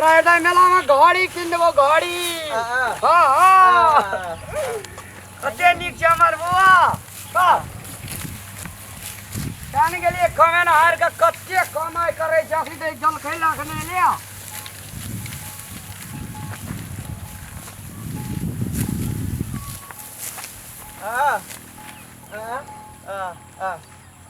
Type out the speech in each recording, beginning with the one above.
रायदा मेला में घड़ी किन देबो घड़ी हाँ, हाँ। हाँ हाँ हाँ। कते नीक छै हमर बौआ हाँ। जान गेलिए कमेन हार के कते कमाई करे छै अभी दे जल खैला के नहीं लिया हाँ, हाँ, हाँ, हाँ।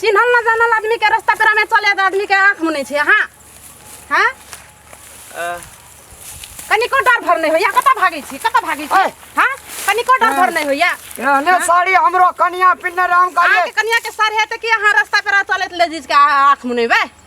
चिन्हल ना जानल आदमी के रास्ता पेरा में चले तो आदमी के आंख मुने छे हां हां आ, कनिको डर भर नहीं होया कत भागे छी कत भागे छी ओए। हां कनिको डर भर नहीं होया एहने साड़ी हमरो कनिया पिन्ने राम आके काले कनिया के सर है त कि हां रास्ता पेरा चले ले जिस के आंख मुने बे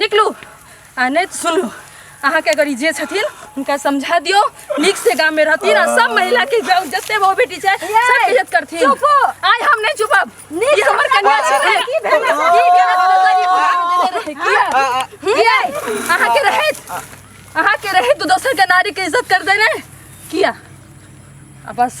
निकलू आ नहि तऽ सुनू अहाँके अगर ई जे छथिन हुनका समझा दियौ नीक से गाम में रहथिन आ सब महिला के जाउ जते बहु बेटी छै सब इज्जत करथिन चुपो आइ हम नहि चुपब ई हमर कन्या छै ने की भेल की भेल किया अहाँ के रहैत अहाँ के रहैत दोसर के नारी के इज्जत कर देने किया आ बस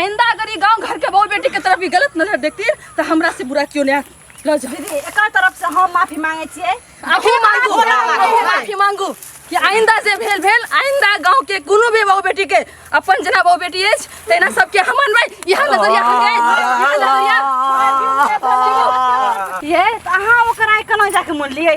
आइंदा अगर ये गांव घर के बहू बेटी के तरफ ई गलत नजर देखती तो हमरा से बुरा क्यों नहीं लो जा दीदी एकर तरफ से हम माफी मांगे छियै माफी मांगू माफी मांगू कि आइंदा से भेल भेल आइंदा गांव के कोनो भी बहू बेटी के अपन जना बहू बेटी अछि तेना सबके हम अनबै इहा नजरिया हम गए इहा नजरिया ये तऽ अहाँ ओकरा आइ केना जाके मोन लियै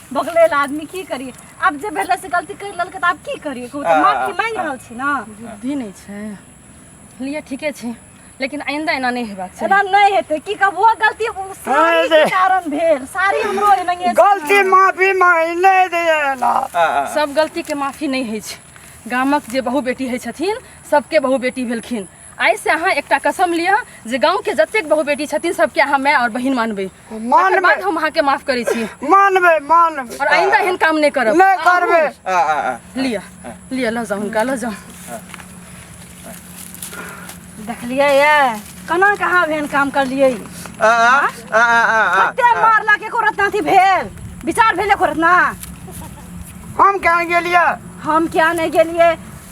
बगलेला आदमी की करी आब जे भेलै से गलती करि लेलकै तऽ आब की करी कहू तऽ माफी मांगि रहल छी ने बुद्धि नहि छै लिए ठीके छै लेकिन आइंदा एना नहि हेबाक चाही एना नहि हेतै की कहब वो गलती उ साड़ी के कारण भेल साड़ी हमरो एनाहिए गलती माफी मांगि नहि देला सब गलतीके माफी नहि होइ छै गामक जे बहु बेटी होइ छथिन सबके बहु बेटी भेलखिन आइसँ अहाँ एकटा कसम लिअ जे गाँवके जतेक बहु बेटी छथिन सबके अहाँ माय आओर बहिन मानबै मानबै बाद हम अहाँके माफ करै छी मानबै मानबै आओर आइन्दा एहन काम नहि करब नहि करबै आ आ आ लिअ लिअ लऽ जाउ हुनका लऽ जाउ देखलियै ये केना के अहाँ एहन काम करलियै आ आ आ आ आ कते मारलक एको रत्ना अथी भेल विचार भेल एको रत्ना हम कहाँ गेलियै हम किया नहि गेलियै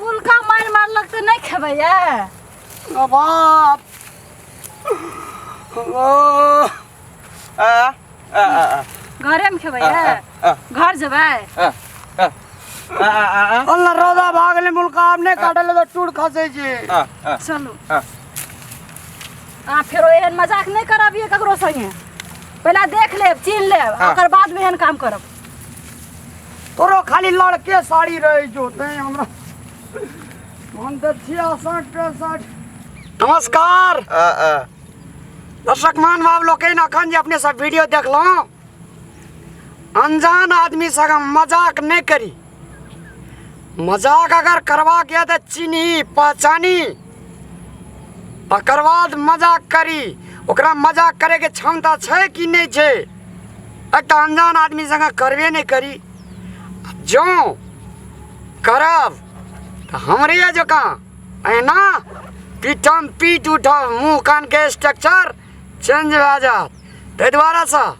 मुलका मारि मारलक तऽ नहि खेबै यऽ बाप घरेमे खेबै यऽ घर जेबै अल्लाह रोदा भागले मुलका आब नहि काटे ले तऽ टूट खसे छै चलू अहाँ फेरो एहन मजाक नहि करब ये ककरो संगे पहिले देख लेब चीन लेब ओकर बाद एहन काम करब तोरो खाली लड़के साड़ी रही जो ते हमरा हम तो छिया साठ पैंसठ नमस्कार आ, आ, दर्शक मान बाब लोग के अखन जे अपने सब वीडियो देखलहुँ अनजान आदमी से अगर मजाक नहीं करी मजाक अगर करबाक यऽ तऽ चिन्ही पहचानी तकर बाद मजाक करी ओकरा मजाक करैके क्षमता छै कि नहि छै एक तऽ अनजान आदमी सङ्गे करबे नहि करी जँ करब तऽ हमरे जकाँ एना पीठम पीट उठब मुँह कानके स्ट्रक्चर चेंज भए जायत ताहि दुआरेसँ